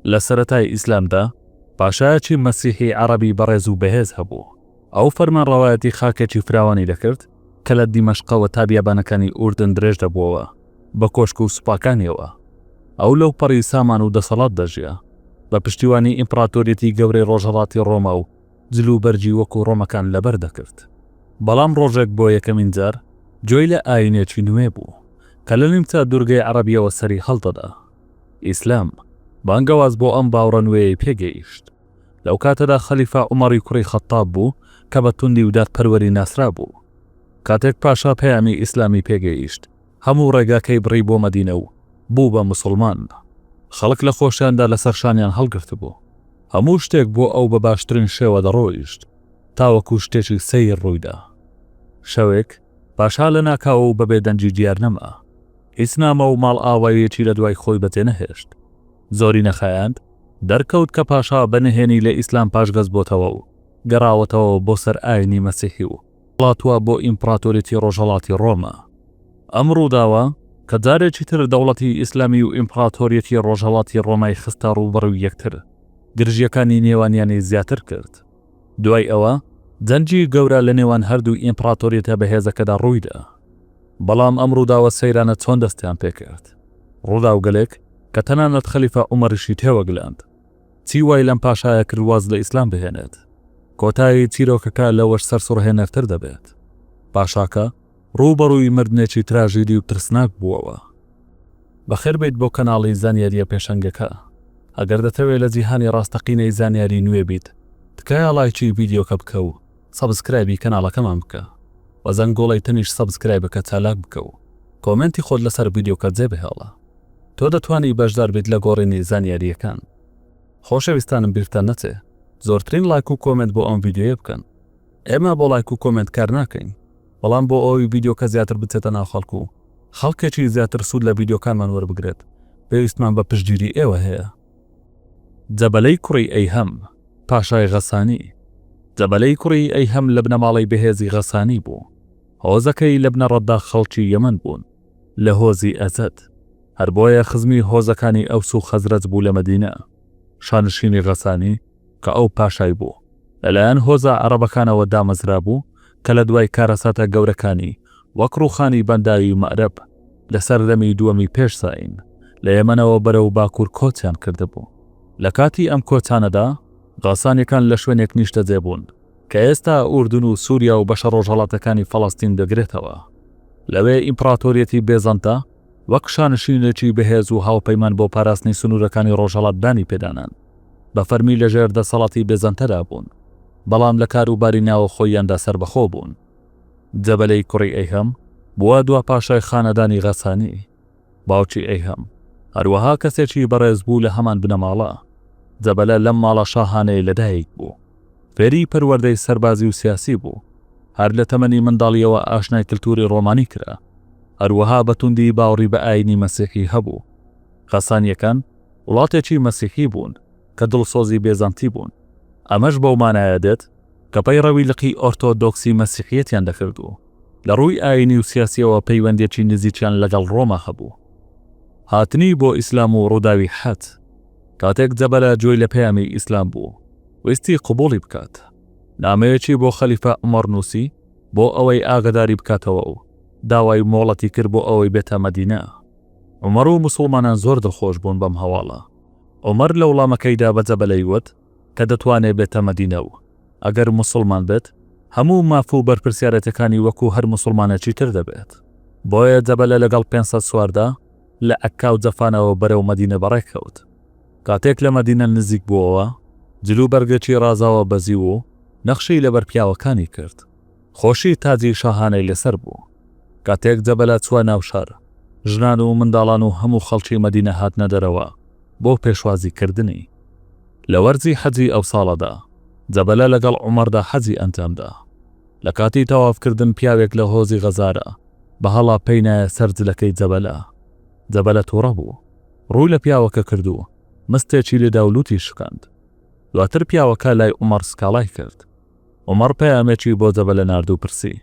لە سەرەتای ئیسلامدا پاشایەکی مەسیحی عەڕەبی بەڕێز و بەهێز هەبوو، ئەو فەرمانڕەوایەتی خاکێکی فراوانی دەکرد کە لە دیمەشقەوە تا بیابانەکانی ئوردن درێژ دەبووەوە، بە کۆشک و سوپاکانیەوە. ئەو لەوپەڕی سامان و دەسەڵات دەژیا، بە پشتیوانی ئیمپڕاتۆریەتی گەورەی ڕۆژهەڵاتی ڕۆما و جلوبەرگی وەکو ڕۆمەکان لەبەر دەکرد. بەڵام ڕۆژێک بۆ یەکەمین جار گوێی لە ئایینێکی نوێ بوو کە لە نیمچە دوورگەی عەڕەبیەوە سەری هەڵدەدا. ئیسلام، بانگەواز بۆ ئەم باوڕە نوێیەی پێ گەیشت. لەو کاتەدا خەلیفە عومەڕی کوڕی خەتتاب بوو کە بە توندی و دادپەروەری ناسرابوو. کاتێک پاشا پەیامی ئیسلامی پێ گەیشت، هەموو ڕێگاکەی بڕی بۆ مەدینە و بوو بە موسڵمان. خەڵک لە خۆشیاندا لە سەر شانیان هەڵگرتبوو. هەموو شتێک بۆ ئەو بە باشترین شێوە دەڕۆیشت، تاوەکو شتێکی سەیر ڕووی دا. شەوێک، پاشا لە ناکاو و بەبێ دەنگی دیار نەما. هیچ نامە و ماڵئاوایەکی لە دوای خۆی بەجێ نەهێشت. زۆری نەخایاند، دەرکەوت کە پاشا بە نهێنی لە ئیسلام پاشگەز بۆتەوە و گەڕاوەتەوە بۆ سەر ئاینی مەسیحی و هەڵاتووە بۆ ئیمپڕاتۆریەتی ڕۆژهەڵاتی ڕۆما. ئەم ڕووداوە، کە جارێکی تر دەوڵەتی ئیسلامی و ئیمپڕاتۆریەتی ڕۆژهەڵاتی ڕۆمای خستە ڕووبەڕووی یەکتر، گرژییەکانی نێوانیانی زیاتر کرد. دوای ئەوە جەنگی گەورە لە نێوان هەردوو ئیمپڕاتۆریەتە بەهێزەکەدا ڕوویدا. بەڵام ئەم ڕووداوە سەیرانە چۆن دەستیان پێکرد. ڕووداوگەلێک کە تەنانەت خەلیفە عومەریشی تێوەگلەند. چی وای لەم پاشایە کرد واز لە ئیسلام بهێنێت؟ کۆتایی چیرۆکەکە لەوەش سەرسوڕهێنەرتر دەبێت. پاشاکە، ڕووبەڕووی مردنێکی تراژیدی و ترسناک بووەوە. بەخێربێیت بۆ کەناڵی زانیارییە پێشەنگەکە. ئەگەر دەتەوێت لە جیهانی ڕاستەقینەی زانیاری نوێ بیت، تکایە ڵایکی ڤیدیۆکە بکە و سەبسکرایبی کەناڵەکەمان بکە. بە زەنگۆڵەی تەنیشت سەبسکرایبەکە چالاک بکە و کۆمێنتی خۆت لەسەر ڤیدیۆکە جێبهێڵە. تۆ دەتوانی بەشدار بیت لە گۆڕینی زانیارییەکان. خۆشەویستانم بیرتان نەچێ زۆرترین ڵایک و کۆمێنت بۆ ئەم ڤیدیۆیە بکەن. ئێمە بۆ ڵایک و کۆمێنت کار ناکەین بەڵام بۆ ئەوەی ڤیدیۆکە زیاتر بچێتە ناو خەڵک و خەڵکێکی زیاتر سوود لە ڤیدیۆکانمان وەربگرێت پێویستمان بە پشتگیری ئێوە هەیە. جەبەلەی کوڕی ئەیهەم، پاشای غەسانی جەبەلەی کوڕی ئەیهەم لە بنەماڵەی بەهێزی غەسانی بوو. هۆزەکەی لە بنەڕەتدا خەڵکی یەمەن بوون، لە هۆزی ئەزەد. هەر بۆیە خزمی هۆزەکانی ئەوس و خەزرەج بوو لە مەدینە. شانشینی غەسانی، کە ئەو پاشای بوو لەلایەن هۆزە عەڕەبەکانەوە دامەزرابوو کە لە دوای کارەساتە گەورەکانی وەک ڕووخانی بەنداوی مەئرەب لە سەردەمی دووەمی پێش زایین لە یەمەنەوە بەرەو باکوور کۆچیان کردبوو. لە کاتی ئەم کۆچانەدا غەسانیەکان لە شوێنێک نیشتەجێ بوون کە ئێستا ئوردن و سووریا و بەشە ڕۆژهەڵاتەکانی فەڵەستین دەگرێتەوە. لەوێ ئیمپڕاتۆریەتی بێزەنتە وەک شانشینێکی بەهێز و هاوپەیمان بۆ پاراستنی سنوورەکانی ڕۆژهەڵات دانی پێدانان. بە فەرمی لە ژێر دەسەڵاتی بێزەنتەدا بوون، بەڵام لە کار و باری ناوەخۆییاندا سەربەخۆ بوون. جەبەلەی کوڕی ئەیهەم بووە دوا پاشای خانەدانی غەسانی. باوکی ئەیهەم هەروەها کەسێکی بەڕێز بوو لە هەمان بنەماڵە. جەبەلە لەم ماڵە شاهانەیە لە دایک بوو. فێری پەروەردەی سەربازی و سیاسی بوو. هەر لە تەمەنی منداڵییەوە ئاشنای کلتوری ڕۆمانی کرا. هەروەها بە توندی باوڕی بە ئایینی مەسیحی هەبوو. غەسانییەکان وڵاتێکی مەسیحی بوون کە دڵسۆزی بێزەنتی بوون، ئەمەش بەو مانایە دێت کە پەیڕەوی لقی ئۆرتۆدۆکسی مەسیحیەتیان دەکرد و لە ڕووی ئایینی و سیاسیەوە پەیوەندیەکی نزیکیان لەگەڵ ڕۆما هەبوو. هاتنی بۆ ئیسلام و ڕووداوی حەت. کاتێک جەبەلە جوێی لە پەیامی ئیسلام بوو، ویستی قبوڵی بکات، نامەیەکی بۆ خەلیفە عومەڕ نووسی بۆ ئەوەی ئاگەداری بکاتەوە و داوای مۆڵەتی کرد بۆ ئەوەی بێتە مەدینە. عومەر و موسوڵمانان زۆر دڵخۆش بوون بەم هەواڵە. عومەر لە وڵامەکەیدا بە جەبەلەی وت کە دەتوانێ بێتە مەدینە و ئەگەر موسوڵمان بێت هەموو ماف و بەرپرسیارێتەکانی وەکوو هەر موسوڵمانێکی تر دەبێت. بۆیە جەبەلە لەگەڵ پێنج سەد سواردا لە عەککا و جەفانەوە بەرەو مەدینە بەڕێ کەوت. کاتێک لە مەدینە نزیک بووەوە، جل و بەرگێکی ڕازاوە بەزیو و نەخشەی لەبەر پیاوەکانی کرد. خۆشی تاجی شاهانەی لەسەر بوو. کاتێک جەبەلە چووە ناو شار، ژنان و منداڵان و هەموو خەڵکی مەدینە هاتنە دەرەوە بۆ پێشوازی کردنی. لە وەرزی حەجی ئەو ساڵەدا، جەبەلە لەگەڵ عومەردا حەجی ئەنجام دا. لە کاتی تەواف کردن پیاوێک لە هۆزی غەزارە بە هەڵا پێی نایە سەر جلەکەی جەبەلە. جەبەلە تووڕە بوو. ڕووی لە پیاوەکە کرد و مستێکی لێدا و لووتی شکاند. دواتر پیاوەکە لای عومەر سکاڵای کرد. عومەڕ پەیامێکی بۆ جەبەلە نارد و پرسی،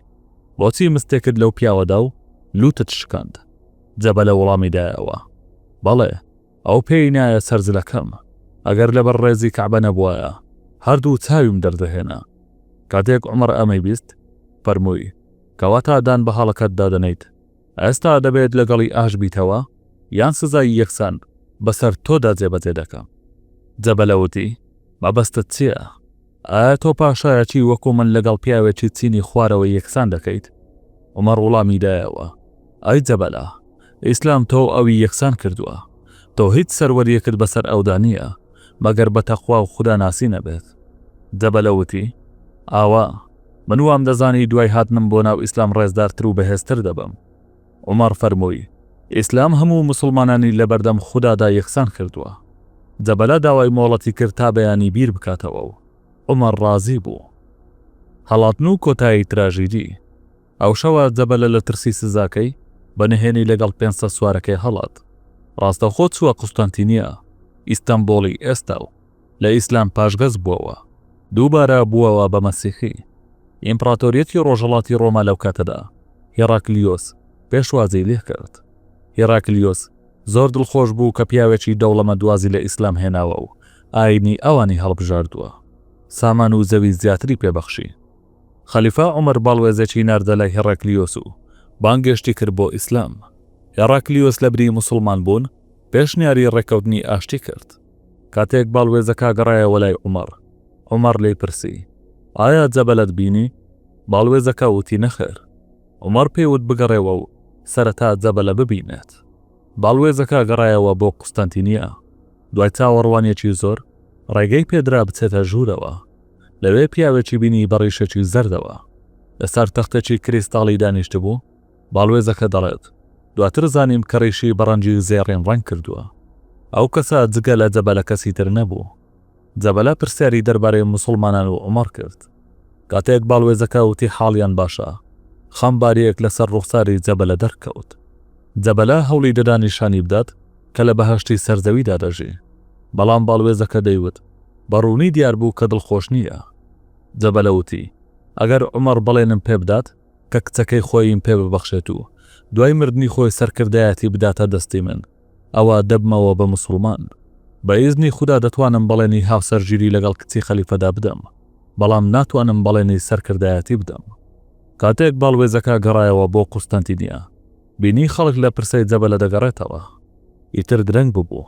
بۆچی مستێکت لەو پیاوە دا و لووتت شکاند؟ جەبەلە وەڵامی دایەوە، بەڵێ، ئەو پێی نایە سەر جلەکەم، ئەگەر لەبەر ڕێزی کەعبە نەبوایە، هەردوو چاویم دەردەهێنا. کاتێک عومەڕ ئەمەی بیست، فەرمووی، کەواتە دان بە هەڵەکەت دا دەنەیت، ئێستا دەبێت لەگەڵی ئاش بیتەوە، یان سزای یەکسان بەسەر تۆدا جێبەجێ دەکەم. جەبەلە وتی، مەبەستت چییە؟ ئایا تۆ پاشایەتی وەکو من لەگەڵ پیاوێکی چینی خوارەوە یەکسان دەکەیت؟ عومەر وڵامی دایەوە، ئای جەبەلا، ئیسلام تۆ و ئەوی یەکسان کردووە، تۆ هیچ سەروەرییەکت بەسەر ئەودا نییە، مەگەر بە تەقوا و خوداناسی نەبێت. جەبەلە وتی، ئاوا، من وامدەزانی دوای هاتنم بۆ ناو ئیسلام ڕێزدارتر و بەهێزتر دەبم. عومەڕ فەرمووی، ئیسلام هەموو موسڵمانانی لەبەردەم خودادا یەکسان کردووە. جەبلە داوای مۆڵەتی کرد تا بەیانی بیر بکاتەوە و عومەر ڕازی بوو. هەڵاتن و کۆتایی تراژیدی. ئەو شەوە جەبلە لە ترسی سزاکەی، بە نهێنی لەگەڵ پێنج سەد سوارەکەی هەڵات. ڕاستەوخۆ چووە قوستەنتینیە، ئیستەنبوڵی ئێستا، و. لە ئیسلام پاشگەز بوەوە دووبارە بوەوە بە مەسیحی. ئیمپڕاتۆریەتی ڕۆژهەڵاتی ڕۆما لەو کاتەدا هیڕاکلیۆس پێشوازی لێ کرد. هیڕاکلیۆس زۆر دڵخۆش بوو کە پیاوێکی دەوڵەمەند وازی لە ئیسلام هێناوە و ئایینی ئەوانی هەڵبژاردووە. سامان و زەوی زیاتری پێ بەخشی. خەلیفە عومەر باڵوێزێکی ناردە لای هیڕاکلیۆس و بانگێشتی کرد بۆ ئیسلام. هیڕاکلیۆس لەبری موسڵمان بوون پێشنیاری ڕێککەوتنی ئاشتی کرد. کاتێک باڵوێزەکە گەڕایەوە لای عومەڕ، عومەڕ لێی پرسی، ئایا جەبەلەت بینی؟ باڵوێزەکە وتی نەخێر. عومەڕ پێی وت بگەڕێوە و سەرەتا جەبەلە ببینێت. باڵوێزەکە گەڕایەوە بۆ قوستەنتینیە. دوای چاوەڕوانیەکی زۆر، ڕێگەی پێدرا بچێتە ژوورەوە. لەوێ پیاوێکی بینی بە ڕیشێکی زەردەوە. لەسەر تەختێکی کریستاڵی دانیشتبوو. باڵوێزەکە دەڵێت، دواتر زانیم کە ڕیشی بە ڕەنگی زێڕین ڕەنگ کردووە. ئەو کەسە جگە لە جەبەلە کەسی تر نەبوو. جەبەلە پرسیاری دەربارەی موسڵمانان و عومەڕ کرد. کاتێک باڵوێزەکە وتی حاڵیان باشە، خەمبارییەک لەسەر ڕوخساری جەبەلە دەرکەوت. جەبەلە هەوڵی دەدا نیشانی بدات کە لە بەهەشتی سەر زەویدا دەژی. بەڵام باڵوێزەکە دەیوت، بە ڕوونی دیار بوو کە دڵخۆش نییە. جەبەلە وتی، ئەگەر عومەڕ بەڵێنم پێ بدات، کە کچەکەی خۆیم پێ ببەخشێت و دوای مردنی خۆی سەرکردایەتی بداتە دەستی من، ئەوا دەبمەوە بە موسڵمان. بە ئیزنی خودا دەتوانم بەڵێنی هاوسەرگیری لەگەڵ کچی خەلیفەدا بدەم، بەڵام ناتوانم بەڵێنی سەرکردایەتی بدەم. کاتێک باڵوێزەکە گەڕایەوە بۆ قوستەنتینیە، بینی خەڵک لە پرسەی جەبەلە دەگەڕێتەوە. ئیتر درەنگ ببوو.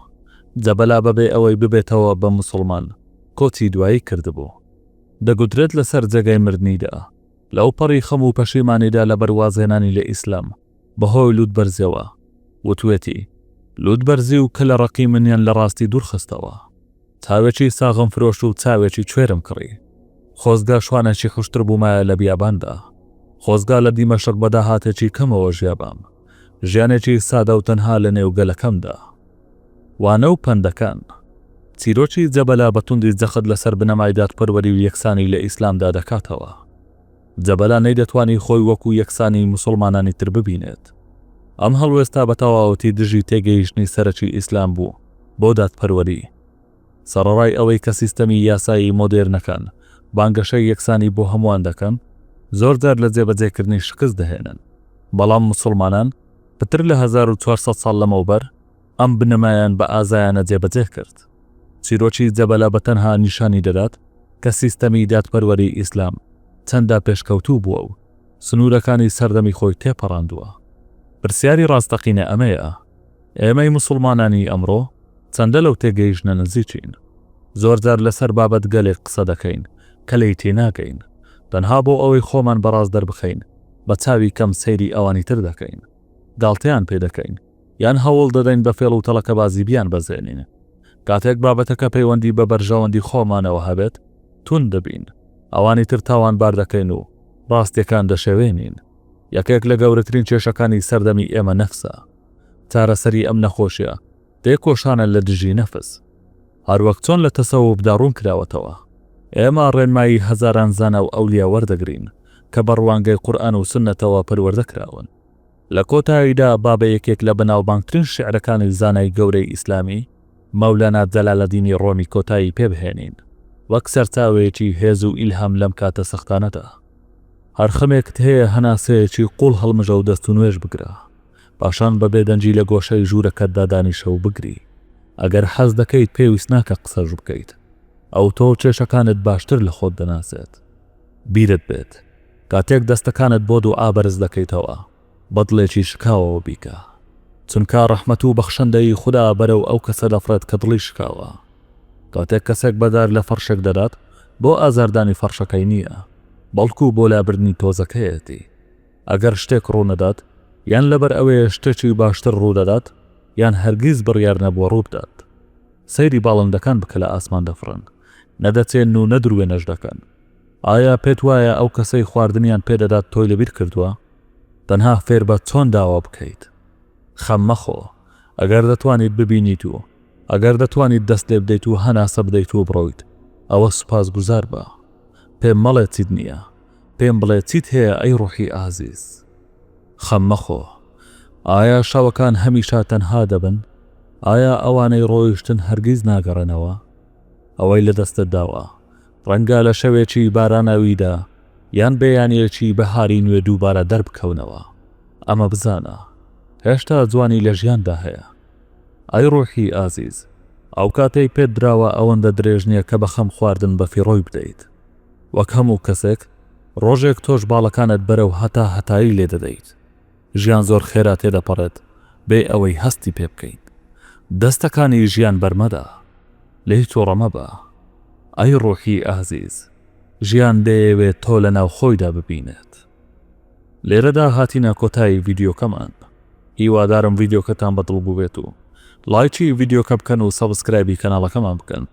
جەبەلە بەبێ ئەوەی ببێتەوە بە موسڵمان، کۆچی دوایی کردبوو. دەگوترێت لەسەر جێگای مردنیدا، لەوپەڕی خەم و پەشیمانیدا لەبەر وازهێنانی لە ئیسلام بەهۆی لووتبەرزیەوە، وتوێتی، لووتبەرزی و کەلە ڕەقی منیان لە ڕاستی دوورخستەوە. چاوێکی ساغم فرۆشت و چاوێکی کوێرم کڕی. خۆزگە شوانێکی حوشتر بوومایە لە بیاباندا. خۆزگا لە دیمەشق بە داهاتێکی کەمەوە ژیابام. ژیانێکی سادە و تەنها لەنێو گەلەکەمدا. وانە و پەندەکان، چیرۆکی جەبەلا بە توندی جەخت لەسەر بنەمای دادپەروەری و یەکسانی لە ئیسلامدا دەکاتەوە. جەبەلا نەیدەتوانی خۆی وەکو یەکسانی موسڵمانانی تر ببینێت. ئەم هەڵوێستە بە تەواوەتی دژی تێگەیشتنی سەرەکی ئیسلام بوو بۆ دادپەروەری. سەڕەڕای ئەوەی کە سیستەمی یاسایی مۆدێرنەکان بانگەشەی یەکسانی بۆ هەمووان دەکەن، زۆرجار لە جێبەجێکردنی شکست دەهێنن، بەڵام موسڵمانان پتر لە هەزار و چوار سەد ساڵ لەمەوبەر ئەم بنەمایان بە ئازایانە جێبەجێ کرد. چیرۆکی جەبەلە بە تەنها نیشانی دەدات کە سیستەمی دادپەروەری ئیسلام چەندە پێشکەوتوو بووە و سنوورەکانی سەردەمی خۆی تێپەڕاندووە. پرسیاری ڕاستەقینە ئەمەیە، ئێمەی موسڵمانانی ئەمڕۆ چەندە لەو تێگەیشتنە نزیکین؟ زۆرجار لەسەر بابەتگەلێک قسە دەکەین کە لێی تێناگەین، تەنها بۆ ئەوەی خۆمان بەڕاست دەربخەین، بە چاوی کەم سەیری ئەوانی تر دەکەین، گاڵتەیان پێ دەکەین، یان هەوڵ دەدەین بە فێڵ و تەڵەکەبازی بیانبەزێنین. کاتێک بابەتەکە پەیوەندی بە بەرژەوەندی خۆمانەوە هەبێت، توند دەبین، ئەوانی تر تاوانبار دەکەین و ڕاستییەکان دەشێوێنین. یەکێک لە گەورەترین کێشەکانی سەردەمی ئێمە نەفسە. چارەسەری ئەم نەخۆشییە، تێکۆشانە لە دژی نەفس. هەروەک چۆن لە تەسەوفدا ڕوون کراوەتەوە، ئێمە ڕێنمایی هەزاران زانا و ئەولیا وەردەگرین کە بە ڕوانگەی قورئان و سوننەتەوە پەروەردە کراون. لە کۆتاییدا با بە یەکێک لە بەناوبانگترین شیعرەکانی زانای گەورەی ئیسلامی، مەولانا جەلالەدینی ڕۆمی کۆتایی پێ بهێنین، وەک سەرچاوەیەکی هێز و ئیلهام لەم کاتە سەختانەدا. هەر خەمێکت هەیە هەناسەیەکی قووڵ هەڵمژە و دەست و نوێژ بگرە. پاشان بە بێدەنگی لە گۆشەی ژوورەکەتدا دانیشە و بگری. ئەگەر حەز دەکەیت پێویست ناکە قسەش بکەیت. ئەو تۆ و کێشەکانت باشتر لە خۆت دەناسێت. بیرت بێت کاتێک دەستەکانت بۆ دوعا بەرز دەکەیتەوە بە دڵێکی شکاوەوە بیکە. چونکا ڕەحمەت و بەخشندەیی خودا بەرەو ئەو کەسە دەفڕێت کە دڵی شکاوە. کاتێک کەسێک بەدار لە فەڕشێک دەدات بۆ ئازاردانی فەڕشەکەی نییە، بەڵکو بۆ لابردنی تۆزەکەیەتی. ئەگەر شتێک ڕوونەدات، یان لەبەر ئەوەیە شتێکی باشتر ڕوودەدات، یان هەرگیز بڕیار نەبووە ڕووبدات. سەیری باڵندەکان بکە لە ئاسمان دەفڕن، نەدەچێن و نە دروێنەش دەکەن. ئایا پێت وایە ئەو کەسەی خواردنیان پێ دەدات تۆی لەبیر کردووە؟ تەنها فێربە چۆن داوا بکەیت. خەم مەخۆ ئەگەر دەتوانیت ببینیت و ئەگەر دەتوانیت دەست لێ بدەیت و هەناسە بدەیت و بڕۆیت، ئەوە سوپاسگوزار بە. پێم مەڵێ چیت نییە. پێم بڵێ چیت هەیە ئەی ڕوحی ئازیز؟ خەم مەخۆ. ئایا شەوەکان هەمیشە تەنها دەبن؟ ئایا ئەوانەی ڕۆیشتن هەرگیز ناگەڕێنەوە؟ ئەوەی لە دەستت داوە، ڕەنگە لە شەوێکی باراناویدا یان بەیانییەکی بەهاری نوێ دووبارە دەربکەونەوە. ئەمە بزانە، هێشتا جوانی لە ژیاندا هەیە. ئەی ڕوحی ئازیز، ئەو کاتەی پێت دراوە ئەوەندە درێژ نییە کە بە خەم خواردن بەفیڕۆی بدەیت. وەک هەموو کەسێک ڕۆژێک تۆش باڵەکانت بەرەو هەتا هەتایی لێ دەدەیت. ژیان زۆر خێرا تێدەپەڕێت بێ ئەوەی هەستی پێ بکەین. دەستەکانی ژیان بەرمەدە. لێی توڕە مەبە. ئەی ڕوحی ئازیز، ژیان دەیەوێت تۆ لە ناو خۆیدا ببینێت. لێرەدا هاتینە کۆتایی ڤیدیۆکەمان. هیوادارم ڤیدیۆکەتان بە دڵ بووبێت و لایکی ڤیدیۆکە بکەن و سەبسکرایبی کەناڵەکەمان بکەن.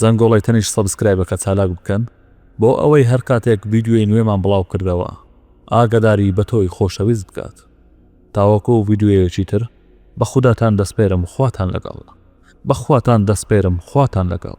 زەنگۆڵەی تەنیشت سەبسکرایبەکە چالاک بکەن بۆ ئەوەی هەر کاتێک ڤیدیۆی نوێمان بڵاو کردەوە ئاگەداری بەتۆی خۆشەویست بکات تاوەکو ڤیدیۆیەکی تر بەخوداتان دەسپێرم خواتان لەگەڵ بەخواتان دەسپێرم خواتان لەگەڵ.